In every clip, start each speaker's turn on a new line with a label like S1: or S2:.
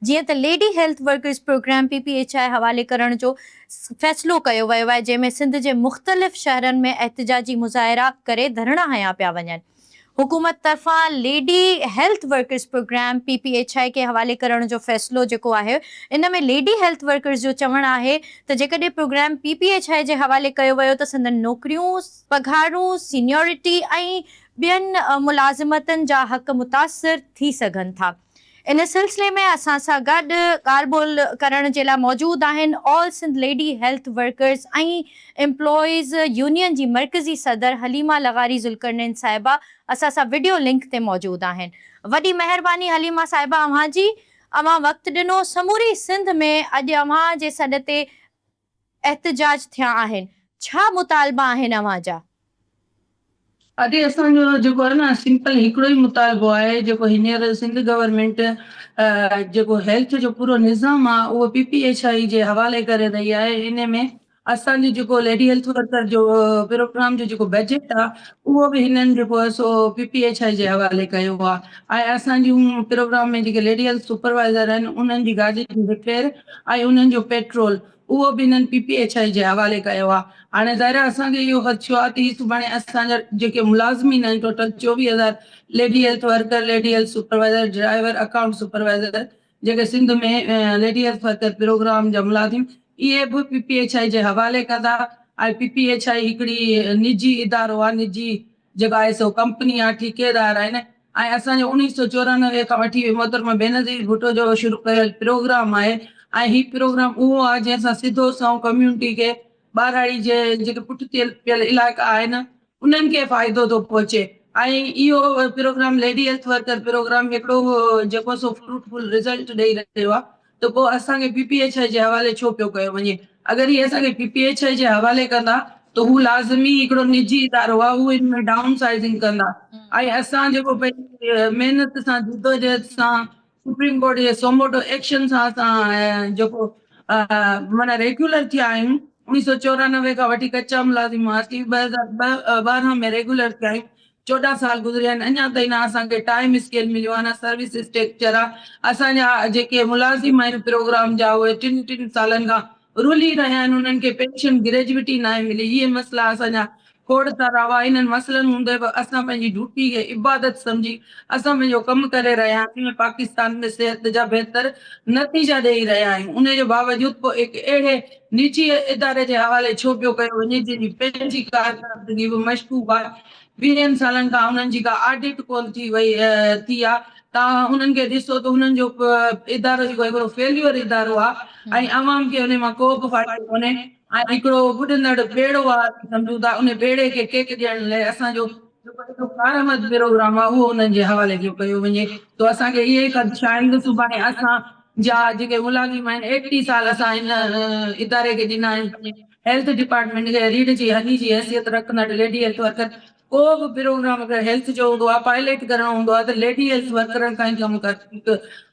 S1: جيئن ته lady health workers programme P P H I حوالي ڪرڻ جو فيصلو ڪيو ويو آهي جنهن ۾ سنڌ جي مختلف شهرن ۾ احتجاجي مظاهرا ڪري ڌرڻا هنيا پيا وڃن حڪومت طرفان lady health workers programme P P H I کي حوالي ڪرڻ جو فيصلو جيڪو آهي ان ۾ ليڊي هيلٿ ورڪرز جو چوڻ آهي ته جيڪڏهن programme P P H I جي حوالي ڪيو ويو ته سندن نوڪريون پگهارون سينيورٽي ۽ ٻين ملازمتن جا حق متاثر ٿي سگهن ٿا. ان سلسلي ۾ اسان سان گڏ ڳالهه ٻولهه ڪرڻ جي لاء موجود آهن all Sindh lady health workers ۽ employees union جي مرڪزي صدر حليمه لغاري ذوالقرنين صاحبه اسان سان وڊيو لنڪ تي موجود آهن وڏي مهرباني حليمه صاحبه اوهان جي اوهان وقت ڏنو سموري سنڌ ۾ اڄ اوهان جي سڏ تي احتجاج ٿيا آهن ڇا مطالبا آهن اوهان جا؟
S2: ادي اسان جو جيڪو آهي نه سمپل هڪڙو ئي مطالبو آهي جيڪو هينئر سنڌ گورنمينٽ جيڪو هيلٿ جو پورو نظام آ اهو پي پي ايڇ آئي جي حوالي ڪري رهي آهي انهي ۾ اسان جو جيڪو ليڊي هيلٿ ورڪر جو پروگرام جو جيڪو بجيٽ آ اهو به هنن جيڪو آهي سو پي پي ايڇ آئي جي حوالي ڪيو آ ۽ اسان جون پروگرام ۾ جيڪي ليڊي هيلٿ سپروائيزر آهن انهن جي گاڏي جي رپير ۽ انهن جو پيٽرول اهو به هنن پي پي ايڇ آء جي حوالي ڪيو آهي هاڻي ظاهر آهي اسان کي اهو خدشو آهي ته هي سڀاڻي اسان جا جيڪي ملازمين آهن ٽوٽل چوويهه هزار lady health worker lady health supervisor driver account supervisor جيڪي Sindh ۾ lady health worker programme جا ملازم اهي به پي پي ايڇ آء جي حوالي ڪندا ۽ پي پي ايڇ آء هڪڙي نجي ادارو آهي نجي جيڪو آهي سو ڪمپني آهي ٺيڪيدار آهن ۽ اسان جو اوڻيھ سؤ چورانوي کان وٺي محترمه بينظير ڀٽو جو شروع ڪيل پروگرام آهي ۽ هي پروگرام اهو آهي جنهن سان سڌو سنئون ڪميونٽي کي ٻاراڙي جي جيڪي پٺتي پيل علائقا آهن انهن کي فائدو ٿو پهچي ۽ اهو programme lady health worker programme هڪڙو جيڪو سو فروٽ فل رزلٽ ڏئي رهيو آهي ته پوء اسان کي پي پي ايڇ آء جي حوالي ڇو پيو ڪيو وڃي؟ اگر هي اسان کي پي پي ايڇ آء جي حوالي ڪندا ته هو لازمي هڪڙو نجي ادارو آهي، هو ان ۾ ڊائون سائيزنگ ڪندا ۽ اسان جيڪو پنهنجي محنت سان جدوجهد سان سپريم ڪورٽ جي سوموٽو ايڪشن سان اسان جيڪو معنيٰ ريگيولر ٿيا آهيون، اڻيهه سؤ چورانوي کان وٺي ڪچا ملازم هئاسين، ٻه هزار ٻارهن ۾ ريگيولر ٿيا آهيون، چوڏهن سال گذريا آهن اڃا تائين نه اسان کي ٽائيم اسڪيل مليو آهي نه سروس اسٽرڪچر آهي اسان جا جيڪي ملازم آهن پروگرام جا اهي ٽن ٽن سالن کان رلي رهيا آهن انهن کي پينشن گريجوٽي ناهي ملي هي مسئلا اسان جا کوڙ سارا هئا انهن مسئلن هوندي به اسان پنهنجي ڊيوٽي کي عبادت سمجهي اسان پنهنجو ڪم ڪري رهيا آهيون ۽ پاڪستان ۾ صحت جا بهتر نتيجا ڏيئي رهيا آهيون انهي جي باوجود پوء هڪ اهڙي نجي اداري جي حوالي ڇو پيو ڪيو وڃي جنهن جي پنهنجي ڪارڪردگي به مشڪوڪ آهي ويهن سالن کان انهن جي ڪا آڊٽ ڪونه ٿي وئي ٿي آ ته اوهان انهن کي ڏسو ته انهن جو ادارو جيڪو هڪڙو فيليور ادارو آ ۽ عوام کي انهي مان ڪوبه فائدو ڪونهي ۽ هڪڙو ٻڏندڙ ٻيڙو آ اسين سمجهون ٿا انهي ٻيڙي کي ٽيڪ ڏيڻ لئه اسان جو جيڪو هڪڙو ڪارآمد پروگرام آ اهو انهن جي حوالي ٿيو ڪيو وڃي سو اسان کي اهي خدشا آهن ته سڀاڻي اسان جا جيڪي ملازم آهن ايڪٽي سال اسان هن اداري کي ڏنا آهن هيلٿ ڊپارٽمينٽ کي ريڙهه جي هني جي حيثيت رکندڙ ليڊي هيلٿ ورڪر ڪو به پروگرام اگر هيلٿ جو هوندو آهي پائليٽ ڪرڻو هوندو آهي ته ليڊي هيلٿ ورڪرن کان ئي ڪم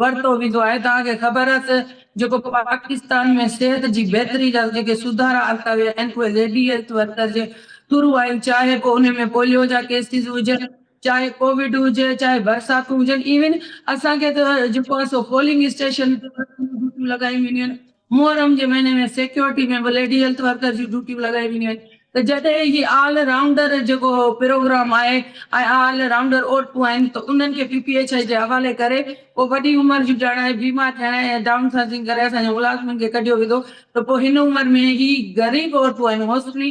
S2: ورتو ويندو آهي توهان کي خبر آهي ته جيڪو پاڪستان ۾ صحت جي بهتري لاء جيڪي سڌارا آندا ويا آهن اهي ليڊي هيلٿ ورڪر جي ٿرو آهن چاهي پوء انهن ۾ پوليو جا ڪيسز هجن چاهي ڪووڊ هجي چاهي برساتون هجن ايون اسان کي ته جيڪو آهي سو پولنگ اسٽيشن تي ڊيوٽيون لڳايون وينديون آهن محرم جي مهيني ۾ سيڪيورٽي ۾ به ليڊي هيلٿ ورڪر جون ڊيوٽيون لڳائي وينديون آهن ته جڏهن هي آل رائونڊر جيڪو پروگرام آهي ۽ آل رائونڊر عورتون آهن ته انهن کي پي پي ايڇ آء جي حوالي ڪري پوء وڏي عمر جون ڄڻ آهي بيمار ٿيڻ ۽ ڊائون سائزنگ ڪري اسان جي ملازمن کي ڪڍيو ويندو ته پوء هن عمر ۾ هي غريب عورتون آهن موسٽلي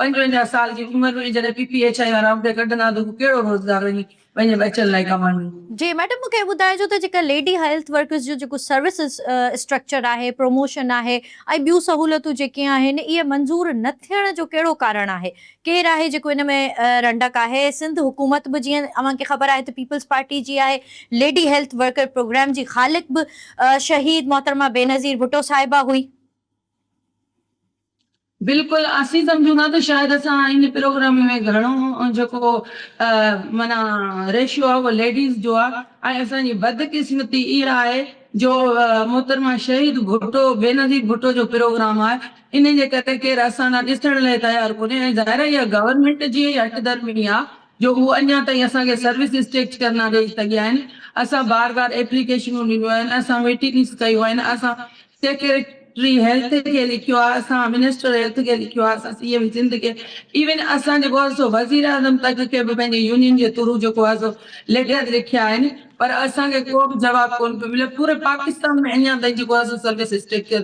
S2: پنجونجاهه سال جي عمر ۾ جڏهن پي پي ايڇ آء وارا عهدي ڪڍندا ته هو ڪهڙو روزگار وڃي پنهنجي ٻچن لاء ڪمائيندو؟ جي ميڊم مون کي
S1: ٻڌائجو ته جيڪا ليڊي هيلٿ ورڪرز جو جيڪو سروس اسٽرڪچر آهي پروموشن آهي ۽ ٻيون سهولتون جيڪي آهن اهي منظور نه ٿيڻ جو ڪهڙو ڪارڻ آهي ڪير آهي جيڪو ان ۾ رنڊڪ آهي سنڌ حڪومت به جيئن اوهان کي خبر آهي ته پيپلز پارٽي جي آهي ليڊي هيلٿ ورڪر پروگرام جي خالق به شهيد محترمه بينظير ڀٽو صاحبه هئي.
S2: بلڪل اسين سمجهون ٿا ته شايد اسان ان پروگرام ۾ گهڻو جيڪو معنيٰ ريشيو آهي اهو ليڊيز جو آهي ۽ اسان جي بدقسمتي اها آهي جو محترمه شهيد ڀٽو بينظير ڀٽو جو پروگرام آهي ان جي ڪري ڪير اسان ڏانهن ڏسڻ لاء تيار ڪونهي ۽ ظاهر آهي اها گورنمينٽ جي ئي هٺ ڌرمي آهي جو هو اڃا تائين اسان کي سروسز ٽيڪٽ ڪر نه ڏئي سگهيا آهن اسان بار بار ايپليڪيشنون ڏنيون آهن اسان ميٽنگز ڪيون آهن اسان سيڪريٽري هيلٿ کي لکيو آهي، اسان منسٽر هيلٿ کي لکيو آهي، اسان سي ايم سنڌ کي، ايون اسان جيڪو آهي سو وزيراعظم تڪ کي به پنهنجي يونين جي ٿرو جيڪو آهي سو ليٽرز لکيا آهن پر اسان کي ڪو به جواب ڪونه پيو ملي، پوري پاڪستان ۾ اڃان تائين جيڪو آهي سو سروس اسٽرڪچر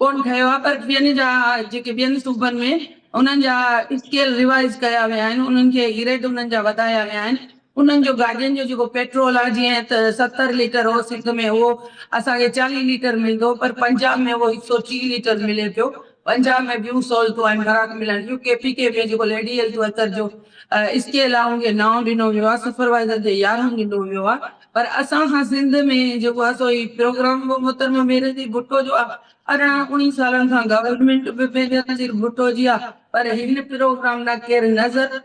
S2: ڪونه ٺهيو آهي پر ٻين جا جيڪي ٻين صوبن ۾ انهن جا اسڪيل ريوائيز ڪيا ويا آهن، انهن کي گريڊ انهن جا وڌايا ويا آهن، انهن جو گاڏين جو جيڪو پيٽرول آهي جيئن ته ستر ليٽر هو سنڌ ۾ اهو اسان کي چاليهه ليٽر ملندو پر پنجاب ۾ اهو هڪ سئو ٽيهه ليٽر ملي پيو پنجاب ۾ ٻيون سهولتون آهن فراڪ ملن ٿيون ڪي پي ڪي ۾ جيڪو ليڊي هيلٿ ورڪر جو اسڪيل آهي ان کي نائون ڏنو ويو آهي سپروائيزر کي يارهون ڏنو ويو آهي پر اسان سان سنڌ ۾ جيڪو آهي سو هي پروگرام به محترمه بينظير ڀٽو جو آهي ارڙهن اوڻيهه سالن کان گورنمينٽ به بينظير ڀٽو جي آهي پر هن پروگرام ڏانهن ڪير نظر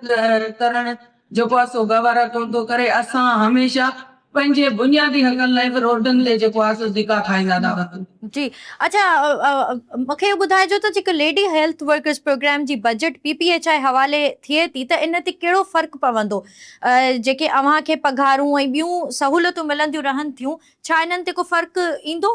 S2: ڪرڻ جيڪو آ سو گوارا ڪونه ٿو ڪري، اسان هميشه پنهنجي بنيادي حقن لاء به روڊن تي جيڪو آ سو ڌڪا کائيندا ٿا وڃون. جي اڇا
S1: مون کي اهو ٻڌائجو ته جيڪو ليڊي هيلٿ ورڪرز پروگرام جي budget P P H I حوالي ٿئي ٿي ته ان تي ڪهڙو فرق پوندو؟ جيڪي اوهان کي پگهارون ۽ ٻيون سهولتون ملنديون رهن ٿيون ڇا انهن تي ڪو فرق ايندو؟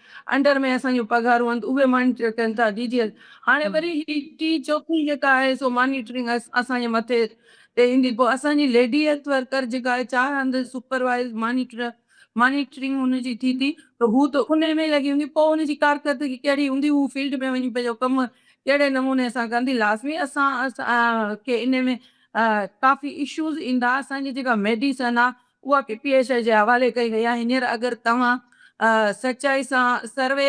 S2: انڊر ۾ اسان جون پگهارون هنڌ اهي مانيٽر ڪن ٿا ڊي جي ايس هاڻي وري هي ٽي چوٿون جيڪا آهي سو مانيٽرنگ اسان جي مٿي تي ايندي پوء اسان جي ليڊي هيلٿ ورڪر جيڪا آهي چار هنڌ سپروائز مانيٽر مانيٽرنگ هن جي ٿي ٿي ته هو ته انهي ۾ لڳي هوندي پوء هن جي ڪارڪردگي ڪهڙي هوندي هو فيلڊ ۾ وڃي پنهنجو ڪم ڪهڙي نموني سان ڪندي لازمي اسان کي انهي ۾ ڪافي اشوز ايندا اسان جي جيڪا ميڊيسن آهي اها پي پي ايش جي حوالي ڪئي وئي آهي هينئر اگر توهان سچائي سان سروي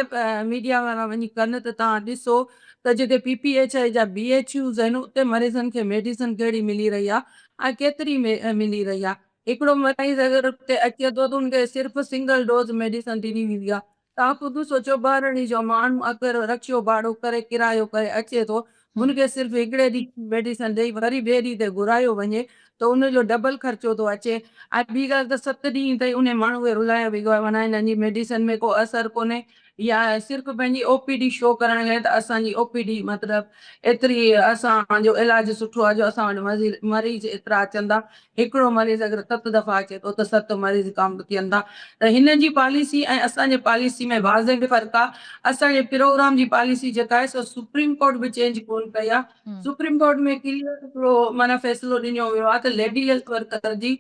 S2: ميڊيا وارا وڃي ڪن ته توهان ڏسو ته جيڪي پي پي ايش جا بي ايڇ يوز آهن اتي مريضن کي ميڊيسن ڪهڙي ملي رهي آهي ۽ ڪيتري ملي رهي آهي هڪڙو مريض اگر اتي اچي ٿو ته ان کي صرف سنگل ڊوز ميڊيسن ڏني ويندي آهي تان قدوس و چوٻارڙي جو ماڻهو اگر رڪشو ڀاڙو ڪري ڪرايو ڪري اچي ٿو ان کي صرف هڪڙي ڏينهن جي ميڊيسن ڏئي وري ٻئي ڏينهن تي گهرايو وڃي ته ان جو ڊبل خرچو ٿو اچي ۽ ٻي ڳالهه ته ست ڏينهن تائين انهي ماڻهو کي رلايو ويندو آهي ورنه هنن جي ميڊيسن ۾ ڪو اثر ڪونهي يا صرف پنهنجي او پي ڊي شو ڪرڻ لاء ته اسان جي او پي ڊي مطلب ايتري اسان جو علاج سٺو آهي جو اسان وٽ مريض ايترا اچن ٿا هڪڙو مريض اگر ست دفعا اچي ٿو ته ست مريض ڪامب ٿين ٿا ته هنن جي پاليسي ۽ اسان جي پاليسي ۾ واضح فرق آ اسان جي پروگرام جي پاليسي جيڪا آهي سو سپريم ڪورٽ به چينج ڪون ڪئي آ سپريم ڪورٽ ۾ ڪليئر هڪڙو معنيٰ فيصلو ڏنيو ويو آ ته ليڊي هيلٿ ورڪر جي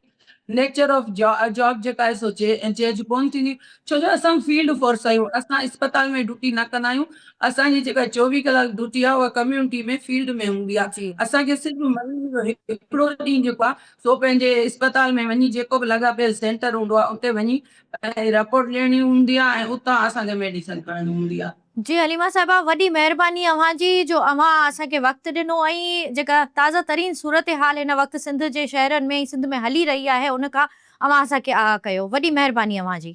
S2: نيچر آف جاب جيڪا آهي سو چينج ڪون ٿيندي ڇو جو اسان فيلڊ فورس آهيون اسان اسپتال ۾ ڊيوٽي نه ڪندا آهيون اسان جي جيڪا چوويهه ڪلاڪ ڊيوٽي آهي اها ڪميونٽي ۾ فيلڊ ۾ هوندي آهي اسان کي صرف
S1: مريض
S2: جو هڪڙو ڏينهن جيڪو آهي سو پنهنجي اسپتال ۾ وڃي جيڪو به لاڳاپيل سينٽر هوندو آهي اتي وڃي پنهنجي رپورٽ ڏيڻي هوندي آهي ۽ اتان اسان کي ميڊيسن کڻڻي هوندي آهي. جي حليما صاحبه
S1: وڏي مهرباني اوهان جي جو اوهان اسان کي وقت ڏنو ۽ جيڪا تازه ترين صورتحال هن وقت سنڌ جي شهرن ۾ ۽ سنڌ ۾ هلي رهي آهي ان کان اوهان اسان کي آگاهه ڪيو وڏي مهرباني اوهان جي.